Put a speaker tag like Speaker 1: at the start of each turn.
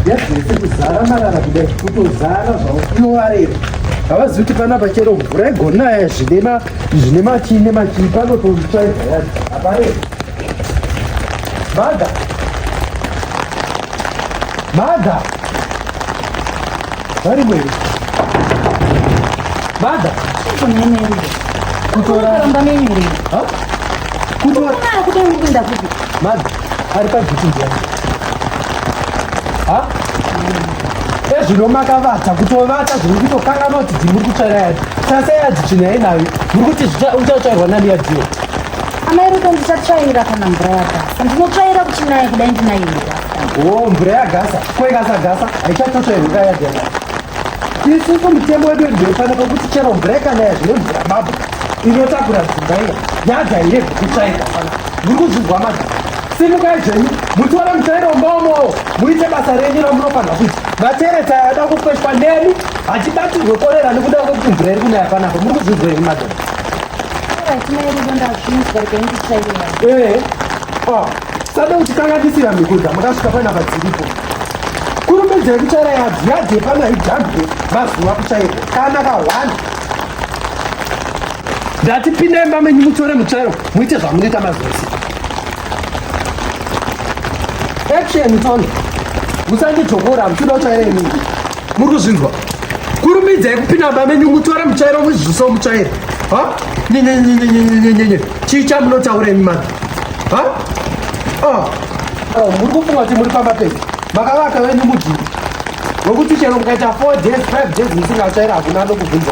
Speaker 1: yadzese kuzara marara kudai kutozara zvavo inovarera havazi kuti panapa chero mvura igonaya zvine machii nemachii panototsvaidza yazi haparei Mother. Mother. Very well. Mother. Kutoramba menyere. Ha? Kutora. Kuna kuda ngunda kuti. Mother. Ari pa duty ndiye. Ha? Ezvino makavata kutovata zviri kutokangana kuti dzimuri kutsvaira yadzi. Sasa yadzi china yenayo. Muri kuti uchatsvairwa nani yadziyo. Amai Ruto
Speaker 2: ndichatsvaira kana mvura yagasa. Ndinotsvaira kuchinaya kudai ndinayo mvura. Oh, mvura
Speaker 1: yagasa. Ko ikasa gasa haichatotsvairwa kaya gasa. Isusu mutemo wedu ndinofanira kuti chero mvura ikanaya zvine mvura babu inotakura dzimba iya yadza ire kutsvaira fana. Muri kuzvinzwa madzi. Simukai zvenyu mutiona mutsvairo mbaomowo muite basa renyu ramunofanira kuita. Vatereta yada kukweshwa nemi hachibatirwe korera nekuda kwekuti mvura iri kunaya panapa muri kuzvinzwa iri madzi. Eh, ah, sada kuti kanga tisina mikuza makasvika panapa dziripo kurumbidza yekuchaira yadzi yadzi yepana idhambe mazuva kuchaira kana ka one ndati pinda imba menyu mutore muchairo muite zvamunoita mazuva siku action tone musanditokora muchida kuchaira imii muri kuzvinzwa kurumidzai kupinda baba venyu mutora muchaira muzviziso muchaira ha nyenyenyenyenyenyenyenye chii chamunotaura imi mani ha ah. oh, muri kufunga kuti muri pamba pei makavaka venyu mudhiri nokuti chero mukaita four days five days musingachaira hakuna anokubvunza